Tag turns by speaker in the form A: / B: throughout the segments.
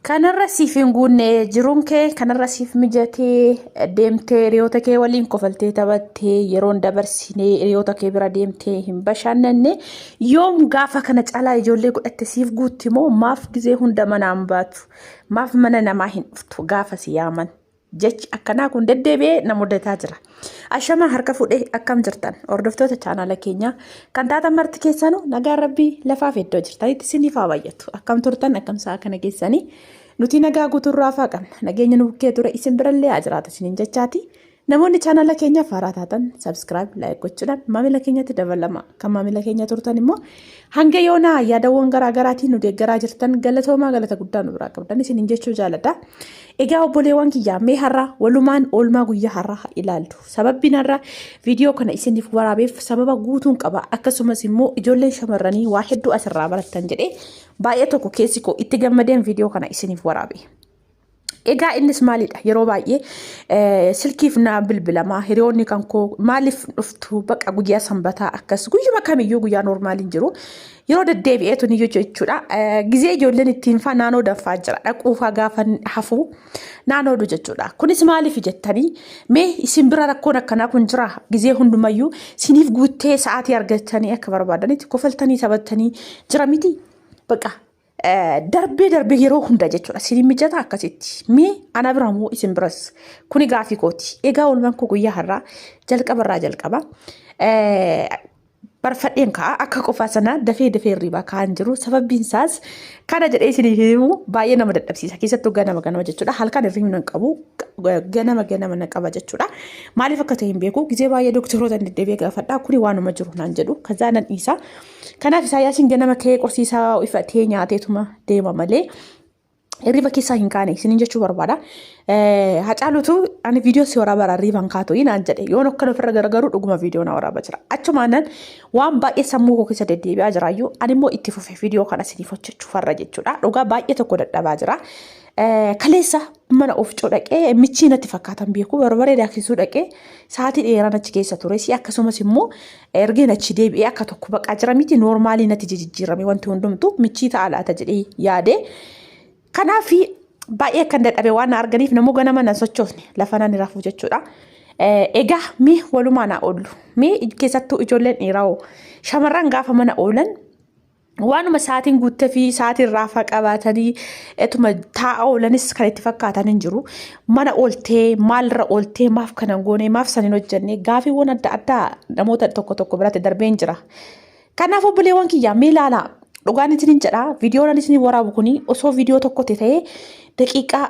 A: Kanarra siif hin guunne jiruun kee kanarra siif mijatee deemtee hiriyoota kee waliin kofaltee taphattee yeroon dabarsinee hiriyoota kee bira deemtee hin bashannanne yoom gaafa kana caalaa ijoollee godhatte siif guutti moo maaf gizee hunda manaan baatu maaf mana namaa hin dhuftu gaafa si yaaman. Jechi akkanaa kun deddeebi'ee na mudataa jira. Ashamaa harka fuudhee akkam jirtan hordoftoota chaanaala keenyaa kan taatan marti keessanuu nagaan rabbii lafaaf iddoo jirtanitti isiniif haa baay'atu. Akkam turtan akkam sa'a kana keessanii nuti nagaa guutuurraa hafaa qabna. Nageenya nu bukkee ture isin birallee haa jiraatu isiniin jechaati. Namoonni chaanaala keenyaaf haaraa taatan sabskiraayib laayik gochuudhaan maamila keenyatti dabalama. Kan maamila keenya turtan immoo hanga yoonaa yaadawwan garaa garaatiin nu deeggaraa jirtan galatoomaa galata guddaa nu biraa qabdan isiniin jechuu jaaladha. Egaa obboleewwan kiyyaa mee har'a walumaan oolmaa guyyaa har'aa haa ilaallu. Sababbiin har'a viidiyoo kana isiniif waraabeef sababa guutuun qaba. Akkasumas immoo ijoolleen shamarranii waa hedduu asirraa barattan jedhee baay'ee tokko keessi koo itti gammadeen viidiyoo kana isiniif waraabe. Egaa innis maalidha yeroo baay'ee silkiif na bilbilamaa hiriyoonni kan koo maaliif dhuftu baqa guyyaa sanbataa akkas guyyuma kamiyyuu guyyaa noormaaliin jiru Yeroo deddeebi'ee tun iyyuu jechuudha. Gizee ijoolleen ittiin faa naannoo danfaa jira. Dhaquufaa gaafa hafuu naannoo du jechuudha. Kunis maaliif jettanii mee isin bira rakkoon akkanaa kun jira. Gizee hundumayyuu siniif guuttee sa'aatii argattanii akka barbaadanitti kofaltanii taphattanii jira miti. Baqa Darbee darbee yeroo hunda jechuudha. Siin mijataa akkasitti. Mee ana bira moo isin biras? Kuni gaafii kooti. Egaa oolmaan koo guyyaa har'aa jalqaba irraa jalqaba. Barfadheen ka'a akka qofaa sana dafee dafee hirriibaa ka'an jiru. Sababiin isaas kana jedhee isin himu baay'ee nama dadhabsiisa. Keessattuu ganama ganama jechuudha. Halkan hirriibni nan qabu ganama ganama na qaba jechuudha. Maaliif akka ta'e hin beeku. Gizee baay'ee doktoroota hin deddeebi'ee gaafadha. Kuni waanuma jiru naan jedhu. Kazaa nan dhiisa. Kanaaf Isaayyaasiin ganama ka'ee qorsii isaa ifatee nyaateetuma deema malee hirriba keessaa hin kaane isiniin jechuu barbaada. Hacaalutu ani viidiyoo si waraabaa irraa hirriban kaatu inaan jedhe yoon akkan ofirra garagaru dhuguma viidiyoo na waraabaa jira. Achumaanan waan baay'ee sammuu koo keessa deddeebi'aa jiraayyuu ani immoo itti fufe viidiyoo kana isiniif hojjechuu farra jechuudha. Dhugaa baay'ee tokko dadhabaa jira. Kaleessa mana ofichoo dhaqee michii natti fakkaatan beeku barbaree daaksisuu dhaqee sa'aatii dheeraan achi keessa ture si akkasumas immoo Ergeen achi deebi'ee akka tokko baqaa jira miti noormaalii natti jijjiirame wanti hundumtu michii ta'a laata jedhee yaade. Kanaaf baay'ee akkan dadhabe waan na arganiif namoo ganama nan sochoofne lafa nan rafu jechuudha. Egaa mee walumaa na oollu mee keessattuu ijoolleen dhiiraa shamarran gaafa mana oolan waanuma sa'aatiin guuttee fi sa'aatii irraa faa qabaatanii etuma taa'aa oolanis kan itti fakkaatan hin jiru. Mana ooltee maalirra ooltee maaf kana hin goone maaf san hin hojjenne gaafiiwwan adda addaa namoota tokko tokko biratti darbee hin jira. Kanaaf obboleewwan kiyyaa mee ilaalaa dhugaan isiniin jedha viidiyoon ani isiniif waraabu kuni osoo viidiyoo tokkotti ta'ee daqiiqaa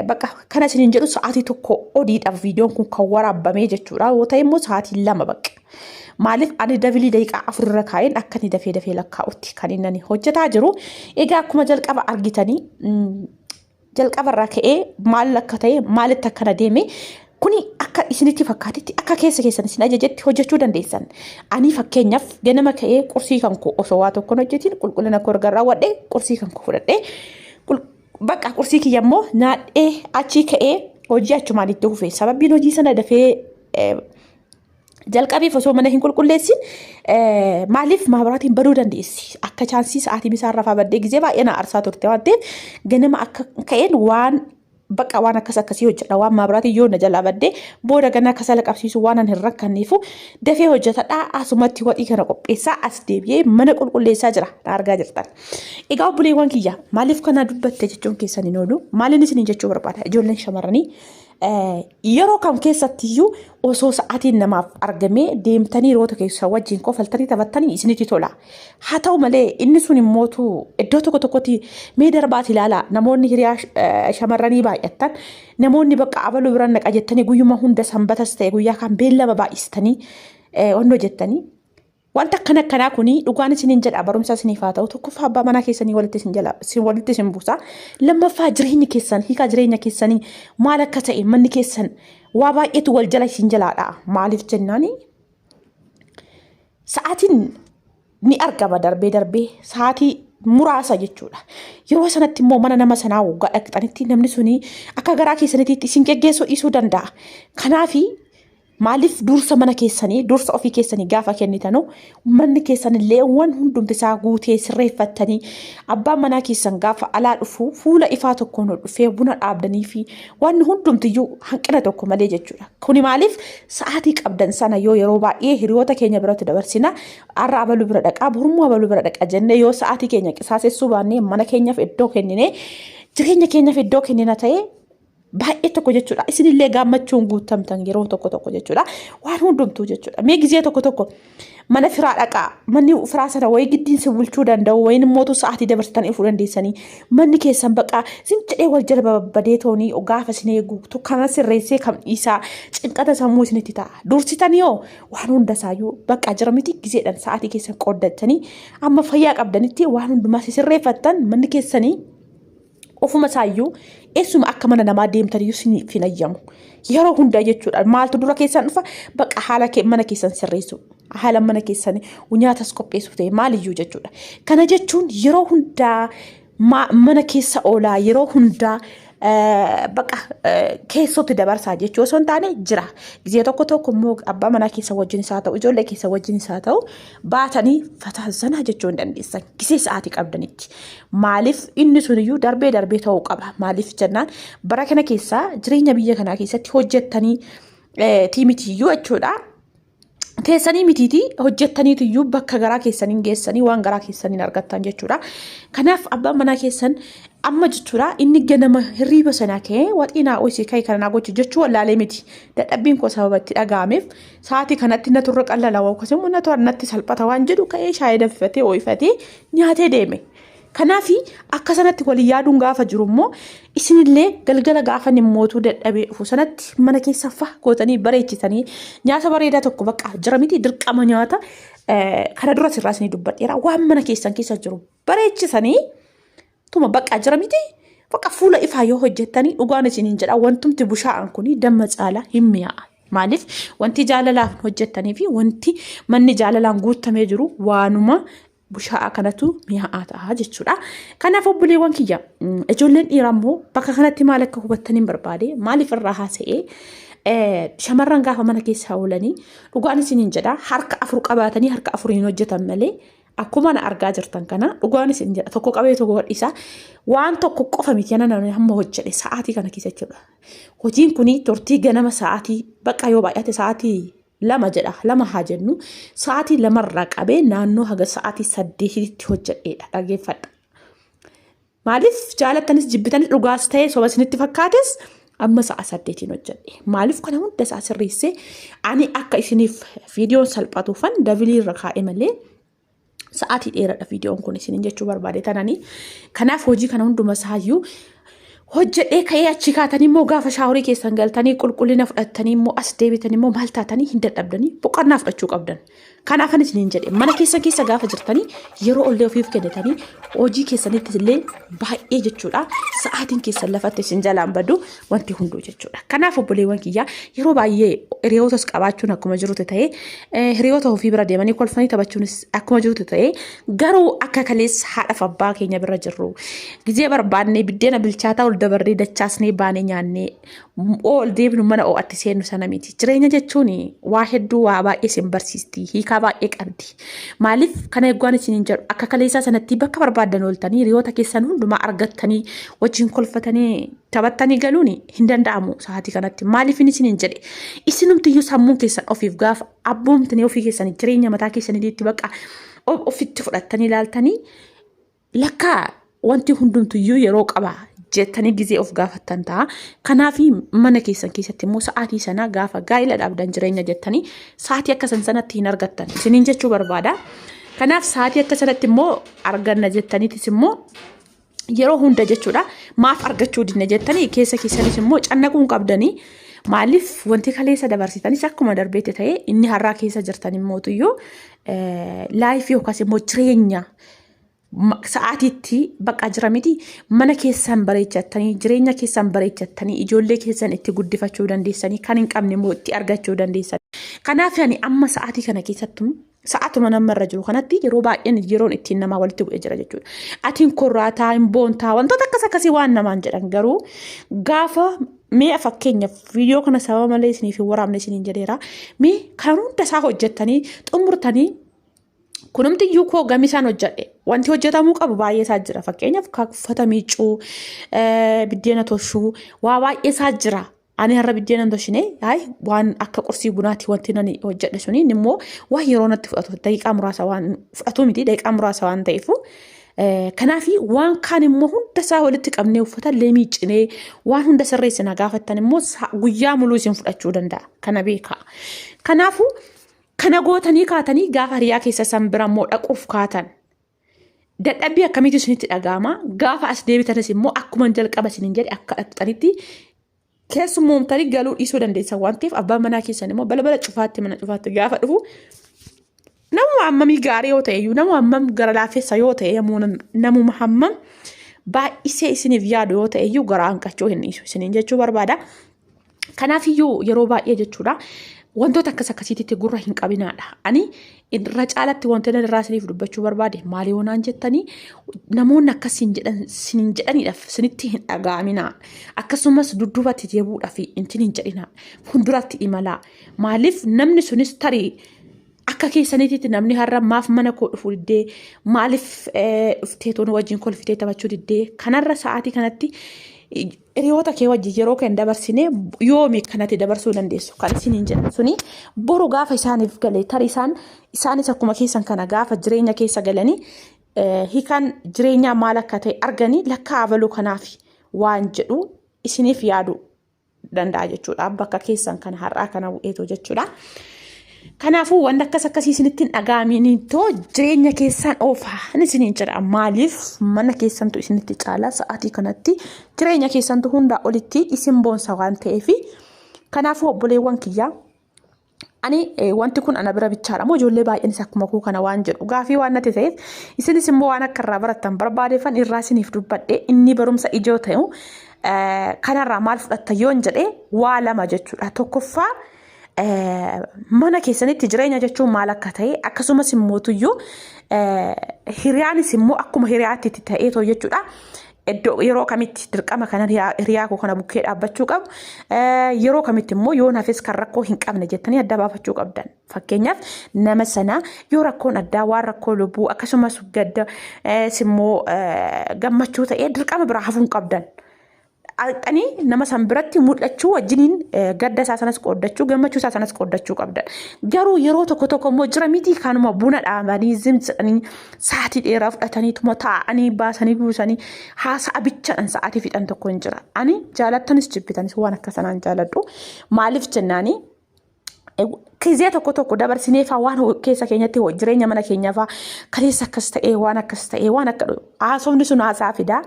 A: Bakka kana isiniin jedhu sa'aatii tokko odiidhaaf viidiyoon kun kan waraabamee jechuudha. Yoo ta'e immoo sa'aatii lama bakka. Maaliif ani dabilii daqiiqaa afurra kaa'een akka inni dafee dafee lakkaa'utti kan inni hojjetaa jiru. Egaa akkuma jalqaba argitanii jalqabarraa ka'ee maal akka ta'e maalitti akkana deeme kuni akka isinitti fakkaatitti akka keessa keessan isin ajajetti hojjechuu dandeessan. Ani fakkeenyaaf ganama ka'ee qursii kan koo osoo waa tokkoon hojjetiin qulqullina koo erga raawwadhee qursii kan koo fudhadhee Baqa qursii kiyya immoo naadhee achii ka'ee hojii achumaan itti fufe. Sababiin hojii sana dafee eh, jalqabeef osoo mana hin qulqulleessin eh, maaliif maabaraatiin baduu dandeessi. Akka chaansii sa'aatii misaa irraa faa baddee gizee baay'ee na aarsaa turte waan ta'eef ganama akka ka'een waan baqa waan akkas akkasii hojjedha waan maabaraatiin yoo na jalaa baddee booda ganaa kasala qabsiisu waan an hin rakkanneefu dafee hojjetadha asumatti waxii kana qopheessaa as deebi'ee mana qulqulleessaa jira na argaa jirtan. Egaa obboleewwan kiyya maaliif kanaa dubbatte jechuun keessan hin oolu maaliin isin jechuu barbaada ijoolleen shamarranii yeroo kam keessatti iyyuu osoo sa'aatiin namaaf argamee deemtanii roota keessa wajjin kofaltanii taphattanii isinitti tola. Haa ta'u malee inni sun immootu iddoo tokko tokkotti mee darbaati ilaala namoonni hiriyaa shamarranii baay'attan namoonni bakka abaluu bira naqa jettanii guyyuma hunda sanbatas ta'e guyyaa kan beellama baay'istanii onnoo jettanii Wanta akkana akkanaa kun dhugaan isiniin jedha barumsa isiniif haa ta'u tokkoffaa abbaa manaa keessanii walitti isin jala isin walitti isin buusa lammaffaa jireenyi keessan hiikaa jireenya keessanii maal akka ta'e manni keessan waa baay'eetu wal jala isin jalaadha maaliif jennaani sa'aatiin ni argama darbee darbee sa'aatii muraasa jechuudha. Yeroo sanatti immoo mana nama sanaa waggaa dhaqxanitti namni suni akka garaa keessanitti isin geggeessuu dhiisuu danda'a. Kanaafi Maaliif dursa mana keessanii, dursa ofii keessanii gaafa kennitanu manni keessan illee waan hundumti isaa guutee sirreeffattanii abbaan manaa keessan gaafa alaa dhufu fuula ifaa tokkoon dhufee buna dhaabdanii fi waan hundumtiyyuu hanqina tokko malee jechuudha. Kuni maaliif sa'aatii qabdan sana yoo yeroo baay'ee hiriyoota keenya biratti dabarsina har'a abaluu bira dhaqaa borummoo abaluu bira dhaqa jennee yoo sa'aatii keenya qisaasessuu baannee mana keenyaaf iddoo kennine jireenya keenyaaf iddoo kennina ta'ee baay'ee tokko jechuudha. Isinillee gaammachuun guutamtan yeroo tokko tokko jechuudha. Waan hundumtuu jechuudha. Mee gizee tokko tokko mana firaa dhaqaa manni firaa sana wayii giddiin si bulchuu danda'u wayin immoo sa'aatii dabarsitan ifuu dandeessanii manni keessan baqaa sin jedhee wal jala babbadee toonii gaafa isin eegu kana sirreessee kam dhiisaa cinqata sammuu isinitti ta'a. Dursitanii hoo waan hunda isaayyuu baqaa jira miti gizeedhaan sa'aatii keessan qooddattanii amma fayyaa qabdanitti waan hundumaa si sirreeffattan manni keessanii ofuma isaayyuu eessuma akka mana namaa deemtaniyyuu siniif hin ayyamu. Yeroo hundaa jechuudha maaltu dura keessan dhufa baqa haala kee mana keessan sirreessu haala mana keessan nyaatas qopheessuuf ta'e maaliyyuu jechuudha. Kana jechuun yeroo hundaa ma- mana keessa oolaa yeroo hundaa eh, baqa eh, keessotti dabarsaa jechuu osoo hin taane jira. Gizee tokko tokko immoo abbaa manaa keessa wajjin isaa ta'u ijoollee keessa wajjin isaa ta'u baatanii fataa zanaa jechuu hin dandeessan gisee sa'aatii qabdanitti maaliif inni suniyyuu darbee darbee ta'uu qaba maaliif jennaan bara kana keessaa jireenya biyya kanaa keessatti hojjettanii tiimitiyyuu jechuudha. Teessanii mitiitii hojjettaniitiyyuu bakka garaa keessaniin geessanii waan garaa keessaniin argattan jechuudha. Kanaaf abbaan manaa keessan amma jechuudha inni ganama hirriiba sana ka'ee waxii naa ho'isii ka'e kana naa gochi jechuu wallaalee miti. Dadhabbiin koo sababa itti dhaga'ameef Sa'aatii kanatti natu irra qallala yookaas immoo natu natti salphata waan jedhu ka'ee shaayii danfifatee ooyifatee nyaatee deeme. Kanaaf akka sanatti walii yaaduun gaafa jiru immoo isinillee galgala gaafa mootuu dadhabee dhufu sanatti mana keessa faa gootanii bareechisanii nyaata bareedaa tokko bakka jira miti dirqama nyaata kana duras irraa isinii dubbadheera waan mana keessan keessa jiru bareechisanii tuma baqaa jira miti baqa fuula ifaa yoo hojjettanii dhugaan isiniin jedha wantumti bushaa'an kun damma caalaa hin mi'aa'a. Maaliif wanti jaalalaan hojjettanii fi wanti manni jaalalaan guuttamee jiru waanuma bushaa'aa kanatu mi'aa'aa ta'a jechuudha. Kanaaf obboleewwan kiyya mm, ijoolleen dhiiraa immoo bakka kanatti maal akka hubattaniin barbaade maaliif irraa haasa'ee eh, shamarran gaafa mana keessaa oolanii dhugaan isiniin jedha harka afur qabaatanii harka afuriin hojjetan malee Akkuma na argaa jirtan kana dhugaan isin jedha tokko qabee tokko gadhiisaa waan tokko qofa miti ana namni hamma hojjedhe sa'aatii kana keessa jechuudha. Hojiin kun turtii ganama sa'aatii bakka yoo baay'ate sa'aatii lama jedha lama haa jennu sa'aatii lamarraa qabee naannoo haga sa'aatii saddeetitti hojjedheedha dhaggeeffadha. Maaliif jaalattanis jibbitanis dhugaas ta'ee soba isinitti fakkaates amma sa'a saddeetiin hojjedhe. Maaliif kana hunda isaa sirreessee ani akka isiniif viidiyoon salphatuufan dabilii irra kaa'e malee sa'aatii dheeradha viidiyoon kun isiniin jechuu barbaade tananii. Kanaaf hojii kana hunduma isaayyuu hojjedhee ka'ee achi kaatanii immoo gaafa shaaworii keessan galtanii qulqullina fudhattanii immoo as deebitanii immoo maal taatanii hin dadhabdanii boqonnaa fudhachuu qabdan. Kanaa kan isiniin jedhe mana keessan keessa gaafa jirtanii yeroo ollee ofiif kennitanii hojii keessanitti illee baay'ee jechuudha sa'aatiin keessan lafatti isin jalaan badu wanti hunduu jechuudha. Kanaaf obboleewwan kiyyaa yeroo baay'ee hiriyootas qabaachuun akkuma jirutti ta'ee eh, hiriyoota ofii bira deemanii kolfanii taphachuunis akkuma jirutti ta'ee garuu akka kalees haadhaaf abbaa keenya bira jirru gizee barbaannee biddeena bilchaataa ol dabarree dachaasnee baanee nyaannee ol deebinu mana oo'atti seennu sana miti. Jireenya jechuun waa hedduu waa baay'ee isin barsiisti. Hiikaa baay'ee qabdi. Maaliif kana eegwaan isin hin jedhu akka kaleessaa sanatti bakka barbaadan ooltanii hiriyoota keessan hundumaa argattanii wajjin kolfatanii taphattanii galuun hin danda'amu sa'aatii kanatti. Maaliif isin hin jedhe isinumtiyyuu sammuun keessan ofiif gaafa abboomtanii ofii keessanii jireenya mataa keessanii itti bakka ofitti fudhattanii ilaaltanii Lakkaa wanti hundumtuyyuu yeroo qaba jettanii gizee of gaafattan ta'a. Kanaaf mana keessan keessatti immoo sa'aatii sana gaafa gaa'ila dhaabdan jireenya jettanii sa'aatii akka san sanatti hin argattan. Isiniin jechuu barbaada. Kanaaf sa'aatii akka sanatti immoo arganna jettaniitis immoo yeroo hunda jechuudha maaf argachuu dinne jettanii keessa keessanis immoo cannaquun qabdanii maaliif wanti kaleessa dabarsitanis akkuma darbeetti ta'e inni har'aa keessa jirtan immootuyyuu laayifii yookaas immoo jireenya sa'aatiitti baqa jira miti mana keessan bareechattanii jireenya keessan bareechattanii ijoollee keessan itti guddifachuu dandeessanii kan hin qabne immoo itti argachuu dandeessan. Kanaaf yani amma sa'aatii kana keessattu sa'aatuma nama irra jiru kanatti yeroo baay'een yeroon ittiin namaa walitti bu'ee jira jechuudha. Atiin korraataa hin boontaa wantoota akkas akkasii waan namaan jedhan garuu gaafa mee fakkeenyaaf viidiyoo kana sababa malee isiniif hin waraabne isiniin jedheera mee kan hunda isaa hojjettanii xumurtanii Kunumti iyyuu koo gamisaan hojjedhe. Wanti hojjetamuu qabu baay'ee isaa jira. Fakkeenyaaf uffata miicuu, biddeena toshuu, waa baay'ee isaa jira. Ani har'a biddeena hin toshine waan akka qursii bunaati wanti nani hojjedhe suni immoo waan yeroo natti fudhatu daqiiqaa muraasa waan fudhatu miti daqiiqaa muraasa waan ta'eefu. Kanaaf waan kaan immoo hunda isaa walitti qabnee uffata illee miiccinee waan hunda sirreessina gaafattan immoo guyyaa muluu isin fudhachuu danda'a. Kana beekaa. Kanaafuu Kana gootanii kaatanii gaafa hiriyaa keessa san bira immoo dhaquuf kaatan. Dadhabbii akkamiitu isinitti dhaga'ama? Gaafa as deebitanis immoo akkuma jalqaba isiniin jedhe akka dhaqxanitti keessummoomtanii galuu dhiisuu dandeessan waan ta'eef abbaan manaa keessan immoo balbala cufaatti mana cufaatti gaafa dhufu namuma hammamii gaarii yoo ta'e iyyuu namuma hammam gara laafessa yoo ta'e yommuu nam- namuma hammam baay'isee isiniif yaadu yoo ta'e iyyuu garaa hanqachuu hin dhiisu isiniin jechuu barbaada. Kanaaf iyyuu yeroo baay'ee jechuudha wantoota akkas akkasiititti gurra hin qabinaadha. Ani irra caalatti wantoota irraa isiniif dubbachuu barbaade maal yoo naan jettanii namoonni akkas siin jedhan siin jedhaniidhaaf sinitti hin dhaga'aminaa. Akkasumas dudduubatti deebuudhaaf intin hin jedhinaa. Fuulduratti imalaa. Maaliif namni sunis tarii akka keessaniititti namni har'a maaf mana koo dhufuu diddee maaliif dhuftee toon wajjin kolfitee taphachuu diddee kanarra sa'aatii kanatti Hiriyoota kee wajjin yeroo kan dabarsine yoomi kanatti dabarsuu dandeessu kan isiniin jedhan suni boru gaafa isaaniif gale tari isaan isaanis akkuma keessan kana gaafa jireenya keessa galanii eh, hiikaan jireenyaa maal akka ta'e arganii lakkaa abaluu kanaaf waan jedhu isiniif yaadu danda'a jechuudha bakka keessan kana har'aa kana bu'eetu jechuudha. Kanaafuu wanti akkas akkasii isinitti hin dhaga'amiin too jireenya keessaan oofaa isiniin jedha. Maaliif mana keessantu isinitti caala sa'aatii kanatti jireenya keessantu hundaa olitti isin boonsa waan ta'eef. Kanaafuu obboleewwan kiyyaa ani wanti kun ana bira bichaadha moo ijoollee baay'eenis akkuma koo kana waan jedhu gaafii waan natti ta'eef isinis immoo waan akka irraa barattan barbaadeeffan irraa isiniif dubbadhe inni barumsa ijoo ta'u kanarraa maal fudhatta yoon jedhe waa lama jechuudha tokkoffaa mana keessanitti jireenya jechuun maal akka ta'e akkasumas immoo tuyyuu hiriyaanis immoo akkuma hiriyaatti itti ta'ee too jechuudha. Iddoo yeroo kamitti dirqama kana hiriyaa koo kana bukkee dhaabbachuu qabu yeroo kamitti immoo yoo nafis kan rakkoo hin qabne jettanii adda baafachuu qabdan. Fakkeenyaaf nama sana yoo rakkoon addaa waan rakkoo lubbuu akkasumas gadda immoo gammachuu ta'ee dirqama biraa hafuu hin qabdan. dhaqxanii nama san biratti mul'achuu wajjiniin gadda isaa sanas qooddachuu gammachuu isaa sanas qooddachuu qabdan. Garuu yeroo tokko tokko immoo jira miti kanuma buna dhaabanii zimzidhanii sa'aatii dheeraa fudhataniituma taa'anii baasanii buusanii haasa'a bichaadhaan sa'aatii fixan tokko hin jira. Ani jaalattanis jibbitanis waan akka sanaan jaaladhu maaliif jennaanii Kizee tokko tokko dabarsinee faa waan ho- keessa keenyatti ho- jireenya mana keenyaa faa kaleessa akkas ta'ee waan akkas ta'ee waan akka haasofni sun haasaa fidaa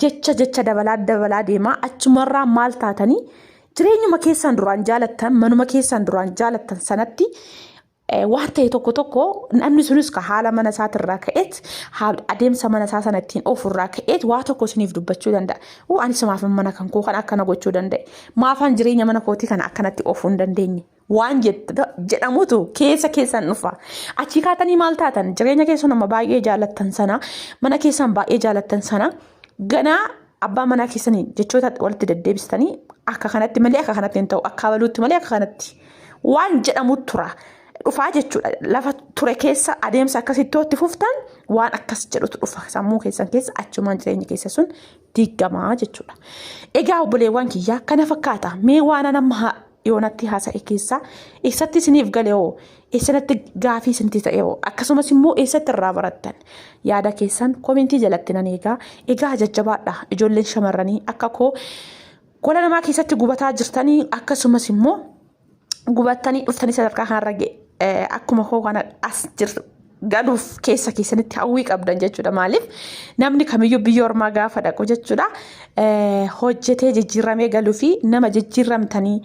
A: jecha jecha dabalaa dabalaa deemaa achumarraa maal taatanii jireenyuma keessaan duraan jaalattan manuma keessaan duraan jaalattan sanatti Eh, waan ta'e tokko tokko namni sunis ka haala mana isaatirraa ka'eet haal- adeemsa mana isaa sana ittiin oofurraa ka'eet waa tokko isiniif dubbachuu danda'a. Uu ani sumaaf mana kan koo kan akkana gochuu danda'e. Maafaan jireenya mana kootii kana akkanatti oofuu hin dandeenye? Waan jedhamutu keessa keessan dhufa. Achii kaatanii maal taatan? Jireenya keessan amma baay'ee jaalattan sana, mana keessan baay'ee jaalattan sana, ganaa abbaa manaa keessanii jechoota walitti deddeebistanii akka kanatti malee akka kanatti hin ta'u, akka abaluutti malee akka kanatti waan jedhamu tura. Dhufaa jechuudha. Lafa ture keessa adeemsa akkasitti itti fuftan waan akkas jedhutu dhufa. Sammuu keessan keessa achumaan jireenya keessa sun diiggamaa jechuudha. Egaa obboleewwan kiyyaa kana fakkaata mee waan an amma yoonatti haasa'e keessaa eessatti isiniif gale hoo eessanatti gaafii isinti ta'e hoo akkasumas immoo eessatti irraa barattan yaada keessan komentii jalatti nan eegaa egaa jajjabaadha ijoolleen shamarranii akka koo gola namaa keessatti gubataa jirtanii akkasumas immoo gubattanii dhuftanii sadarkaa kanarra ga'e eh, akkuma koo kana as jirtu galuuf keessa keessanitti hawwii qabdan jechuudha. Maaliif namni kamiyyuu biyya ormaa gaafa dhaqu jechuudha eh, hojjetee jijjiiramee galuu fi nama jijjiiramtanii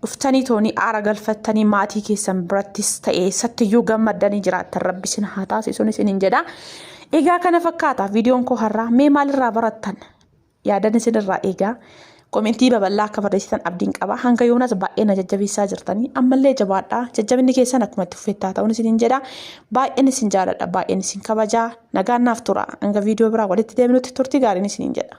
A: dhuftanii toonii aara galfattanii maatii keessan birattis ta'ee sattiyyuu gammaddanii jiraattan rabbi isin haa taasisuun isiniin jedha. Egaa kana fakkaata viidiyoon koo har'aa mee maalirraa barattan? Yaadan isin irraa eegaa. Komentii babal'aa akka barreessitan abdiin qaba. Hanga yoonas baay'ee na jajjabeessaa jirtanii. Ammallee jabaadhaa. Jajjabinni keessan akkuma itti fufetti haa ta'uun isiniin jedha. Baay'een isin jaaladha. Baay'een isin kabajaa. Nagaan naaf tura. Hanga viidiyoo biraa walitti deebinutti turtii gaariin isiniin jedha.